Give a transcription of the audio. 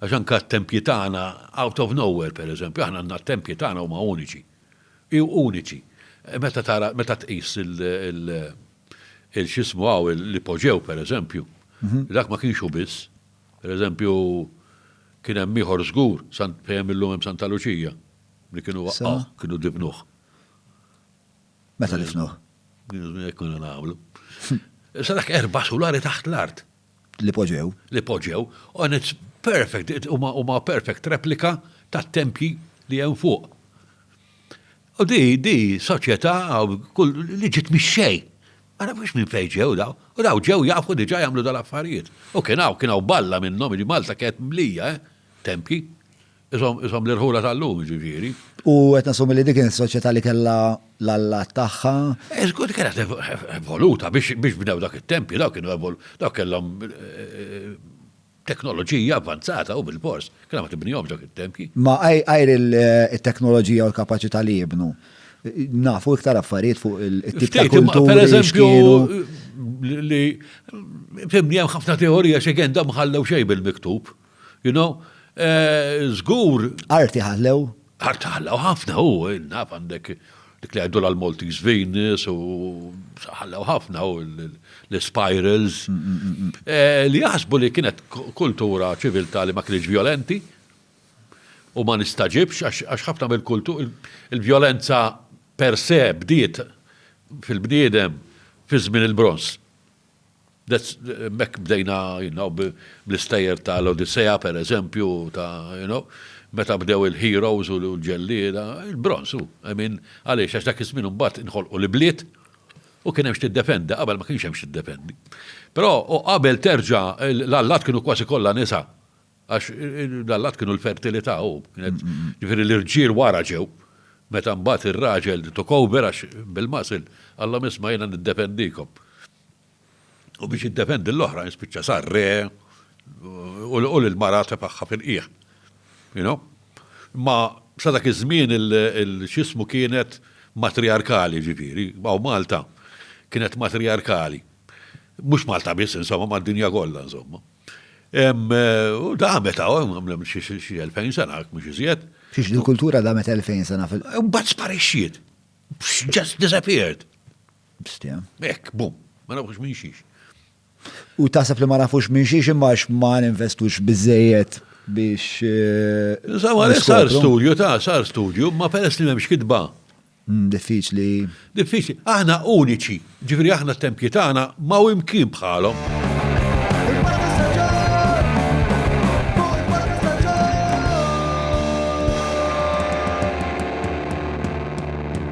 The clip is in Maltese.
Għax anke t-tempji tagħna, out of nowhere pereżempju, aħna għandna t-tempji tagħna huma uniċi. Uniċi. Meta tara, meta tqis il-xismu hawn l-ipoġew pereżempju, dak ma kienx hu biss. Pereżempju, kien hemm ieħor żgur, fejn illum hemm Santa Luċija, li kienu waqqgħuh, kienu difnuh. Meta difnuh? Hekk konna nagħmlu. Issa dak erba' sulari taħt l-art. li poġġew. Li poġġew, and it's perfect, huma perfect replika tat-tempji li hemm fuq. U di, di, soċjetà li ġiet mix-xejn. Ma nafux minn fejn ġew daw. U daw ġew jafu diġà jagħmlu dal-affarijiet. U kien hawn, kien hawn balla minnhom, li Malta kienet mlija, eh? Tempji. Ishom l-irħula tal-lum, jiġifieri. U qed nassumi li dik kienet soċjetà li kellha l-allat tagħha. Iżgur kienet evoluta biex bdew dak it-tempju, dawk kienu dawk kellhom teknoloġija avvanzata u bilfors kellha ma tibnihomx dawk it-tempji. Ma għajr it-teknoloġija u l-kapaċità li jibnu, nafu iktar affarijiet fuq it-tip ta' kulturi. Pereżempju, li fimni hemm ħafna teorija x'għen dawn ma ħallew xejn bil-miktub. You know, żgur. Arti ħallew. Arti ħallew ħafna u naf għandek dik li għajdu l-Maltese Venus u ħallew ħafna u l-spirals mm, mm, mm, eh, li jaħsbu li kienet kultura ċiviltà li ma kienx violenti u ma nistaġibx għax ħafna mill-kultur il-violenza per se bdiet fil-bniedem fi żmien il-bronz. B'hekk bdejna bl-istejjer ta' l-Odissea, per eżempju, ta' you know, meta bdew il-heroes u l-ġellieda, il-bronż hu, I mean, għaliex għax dak iż-żmien imbagħad inħolqu l-ibliet u kien hemm x'tiddefendi, qabel ma kienx hemm x'tiddefendi. Però u qabel terġa' l-allat kienu kważi kollha nisa għax l-allat kienu l-fertilità u kienet, jiġifieri l-irġiel wara ġew, meta mbagħad ir-raġel took over għax bil-muscle, qallhom isma' jiena niddefendikom. u biex jiddefendi l-oħrajn spiċċa sar re u lil mara tefagħha fil-qiegħ. You know? Ma sa dak iż-żmien il-xismu kienet matriarkali ġifieri, għaw Malta kienet matriarkali. Mhux Malta biss insomma mad-dinja kollha insomma. U damet għaw, għamlem xi 2000 sena, mhux iżjed. Xiex il-kultura damet 2000 sena fil- Mbagħad sparixxiet. Just disappeared. Bstia. Ek, bum, ma nafux minn xiex. U taħseb li ma nafux minn xiex imma ma ninvestux bizzejiet biex. Eh, Sawa, sar studju, ta' sar studju, ma peress li memx kitba. Mm, diffiċli. Diffiċli. Aħna uniċi, ġifri aħna t-tempji tagħna ma u imkien bħalhom.